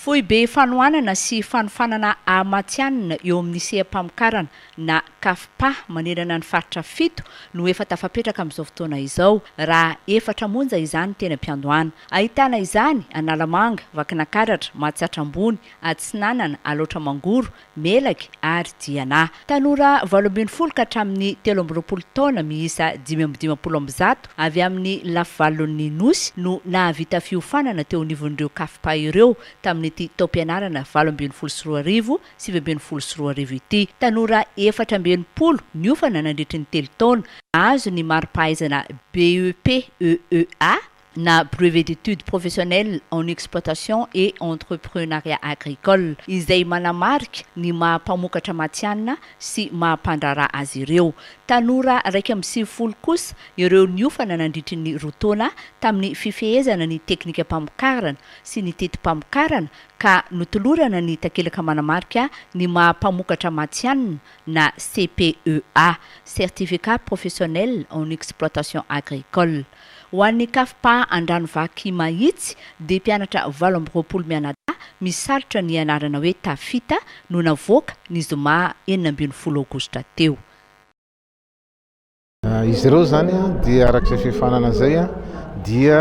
Foibe fanohanana sy fanofanana ahamatihanina eo amin'ny seha-pamokarana na CAFPA manerana ny faritra fito no efa tafapetraka amin'izao fotoana izao, raha efatra monja izany teny am-piandohana. Ahitana izany, Analamanga, Vakinakaratra, Mahatsiatra Ambony, Atsinanana, Alaotra Mangoro, Melaky ary Diana. Tanora valo ambin'ny folo ka hatramin'ny telo amby roapolo taona miisa dimy amby dimampolo amby zato avy amin'ny lafivalon'ny Nosy no nahavita fiofanana teo anivon'ireo Cafpa ireo tamin'ity taom-pianarana valo ambin'ny folo sy roa arivo, sivy ambin'ny folo sy roa arivo ity. Tanora efatra amby enimpolo niofana nandritry ny telo taona, nahazo ny mari-pahaizana BEP EEA na Brevet d'études professionnelles en exploitation et entrepreunariat agricole, izay manamarika ny maha mpamokatra matihanina sy maha mpandraharaha azy ireo. Tanora iraika amby sivifolo kosa ireo niofana nandritry ny roa taona tamin'ny fifehezana ny teknikam-pamokarana sy ny teti-pamokarana ka notolorana ny takelaka manamarika ny maha mpamokatra matihanina na CPEA, Certificat professionnel en exploitation agricole. Ho an'ny KFPA Andranovaky Mahitsy dia mpianatra valo amby roapolo mianadahy misalotra ny anarana hoe Tafita no navoaka ny zoma enina ambin'ny folo aogositra teo. Izy ireo izany dia araka izay fifanana izay dia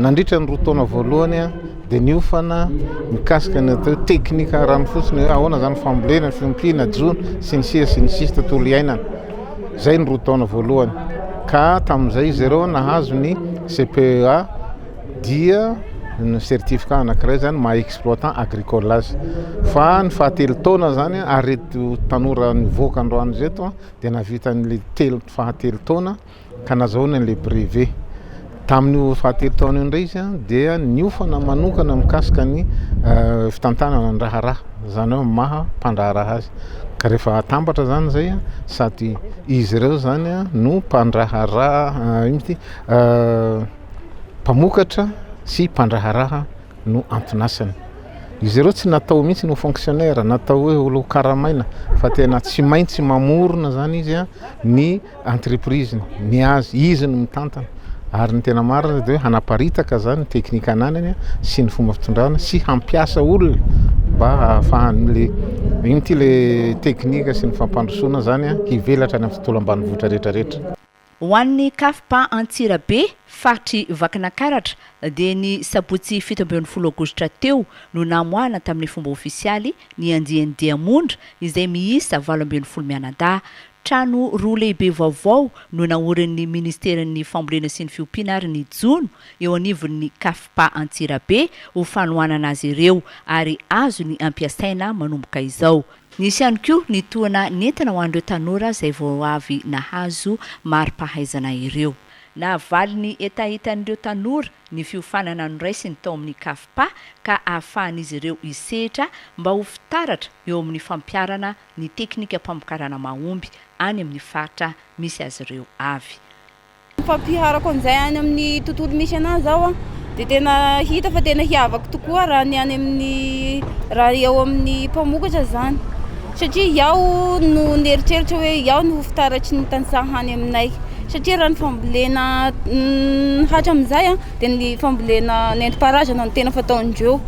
nandritra ny roa taona voalohany dia niofana mikasika ny atao hoe teknika ranofotsiny hoe ahoana izany fambolena, fiompiana, jono sy ny sisa sy ny sisa tontolo iainana. Izay ny roa taona voalohany ka tamin'izay izy ireo nahazo ny CPEA dia ny certificat anankiray izany maha exploitant agricole azy fa ny fahatelo taona izany ary reto tanora nivoaka androany ireto dia nahavita an'ilay telo fahatelo taona ka nazahoany an'ilay brevet. Tamin'io fahatelo taona io indray izy dia niofana manokana mikasika ny fitantanana ny raharaha, izany hoe maha mpandraharaha azy. Ka rehefa atambatra izany izay sady izy ireo izany no mpandraharaha, ino moa ity, mpamokatra sy mpandraharaha no anton'asany. Izy ireo tsy natao mihitsy ny ho fonctionnaire, natao hoe ho karamaina fa tena tsy maintsy mamorona izany izy ny entreprise-ny, ny azy, izy no mitantana ary ny tena marina dia hoe hanaparitaka izany ny teknika ananany sy ny fomba fitondrana sy hampiasa olona mba hahafahan'ilay ino ity ilay teknika sy ny fampandrosoana izany hivelatra any amin'ny tontolo ambanivohitra rehetra rehetra. Ho an'ny KFP Antsirabe, faritr'i Vakinankaratra, dia ny sabotsy fito ambin'ny folo aogositra teo no namoahana tamin'ny fomba ofisialy ny andiany diamondra izay miisa valo ambin'ny folo mianadahy. Trano roa lehibe vaovao no naorin'ny Ministeran'ny Fambolena sy ny Fiompiana ary ny jono eo anivon'ny Cafpa Antsirabe ho fanohanana azy ireo ary azony ampiasaina manomboka izao. Nisy ihany koa ny tohana nentana ho an'ireo tanora izay vao avy nahazo mari-pahaizana ireo. Nahavaly ny hetahetan'ireo tanora ny fiofanana noraisiny tao amin'ny Cafpa ka ahafahan'izy ireo hisehatra mba ho fitaratra eo amin'ny fampiharana ny teknikam-pamokarana mahomby any amin'ny faritra misy azy ireo avy. Ny fampiharako an'izay any amin'ny tontolo misy anahy izao an, dia tena hita fa tena hiavako tokoa raha ny any amin'ny, raha eo amin'ny mpamokatra izany, satria iaho no nieritreritra hoe iaho no ho fitaratry ny tantsaha any aminay, satria raha ny fambolena hatramin'izay an, dia ny fambolena nentim-paharazana no tena fataon'ireo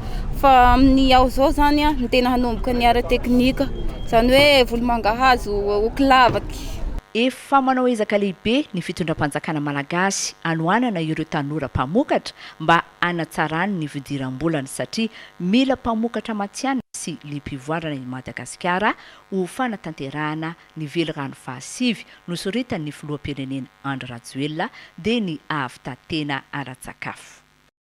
fa amin'ny ao izao izany no tena hanomboka ny ara-teknika izany hoe volomangahazo ho kilavaka. Efa manao ezaka lehibe ny fitondram-panjakana malagasy hanohanana ireo tanora mpamokatra mba hanatsarany ny fidiram-bolany satria mila mpamokatra matihanina sy liam-pivoarana i Madagasikara ho fanatanterahana Ny velirano fahasivy nosoritan'ny filoham-pirenena Andry Rajoelina dia ny hahavita tena ara-tsakafo.